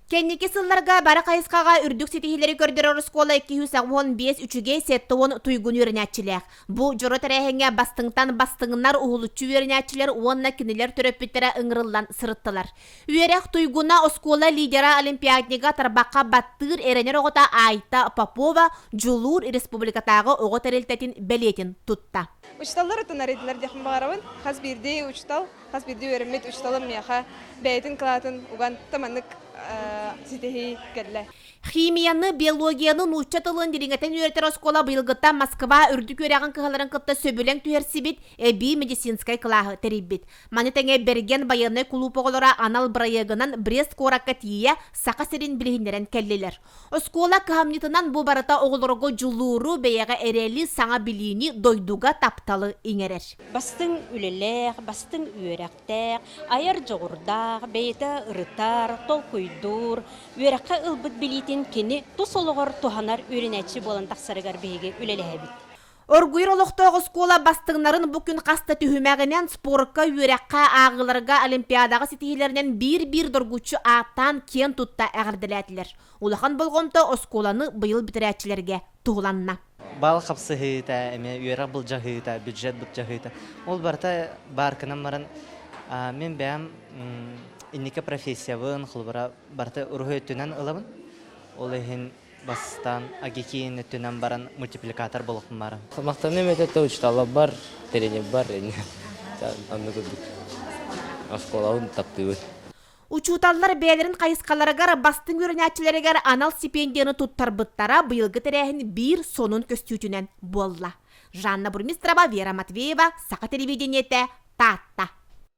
Кэнники сылларга бары хайысхаҕа үрдүк ситиһиилэри көрдөрөр оскуола икки сүүс уон биэс үчүгэй сэттэ уон туйгун үөрэнээччилээх. Бу дьоро тэрээһиҥҥэ бастыҥтан бастыҥнар уһулуччу үөрэнээччилэр уонна кинилэр төрөппүттэрэ ыҥырыллан сырыттылар. Үөрэх туйгуна оскуола лидера олимпиаднига тарбахха баттыыр эрэнэр оҕото Айта Попова дьулуур республикатааҕы оҕо тэрилтэтин бэлиэтин тутта. Учууталлар ытынар идэлэр диэхпин баҕарабын. Хас биирдии учуутал, хас биирдии үөрэммит учууталым миэхэ бэйэтин кылаатын уган маннык ситиһии кэллэ. Химияны, биологияны, нуучча тылын дириҥэтин үөрэтэр оскуола быйылгыттан Москва үрдүк үөрэҕин кыһаларын кытта сөбүлэҥ түһэрсибит, эбии медицинскэй кылааһы тэрийбит. Маны тэҥэ Бэргэн байыаннай кулууп оҕолоро анал бырайыагынан Брест куоракка тиийэ Саха сирин билиһиннэрэн кэллилэр. Оскуола кыһамньытынан бу барыта оҕолорго дьулууру, бэйэҕэ эрэли, саҥа билиини, дойдуга тапталы иҥэрэр. Бастыҥ үлэлээх, бастыҥ үөрэхтээх, айар дьоҕурдаах, бэйэтэ ырытар, толкуйдуур, үөрэххэ ылбыт билиитин кини тус олоҕор туһанар үөрэнээччи буолан тахсарыгар биһиги үлэлэһэбит. Оргуйар олохтоох оскуола бастыҥнарын бу күн хас да түһүмэҕинэн спорка, үөрэххэ, ааҕыыларга, олимпиадаҕа ситиһиилэринэн биир-биир доргуччу ааттаан киэн тутта эҕэрдэлээтилэр. Улахан болҕомто оскуоланы быйыл бүтэрээччилэргэ туһуланна. Бал хапсыһыыта, эмиэ үөрэх былдьаһыыта, бюджет былдьаһыыта. Ол барыта баарканан баран, мин бэйэм инники профессиябын, холобура, барыта уруһуй өттүнэн ылабын. Ол иһин Бастаан АГИКИ-ны өттүнэн баран мультипликатор буолуохпун баҕарабын. Махтаныам этэ да, учууталлар бар, тренер бар ини. Аны курдук оскуолабын таптыыбын. Учууталлар бэйэлэрин хайысхаларыгар бастыҥ үөрэнээччилэригэр анал стипендияны туттарбыттара быйылгы тэрээһин биир сонун көстүүтүнэн буолла. Жанна Бурмистрова, Вера Матвеева, Саха телевидениетэ, Таатта.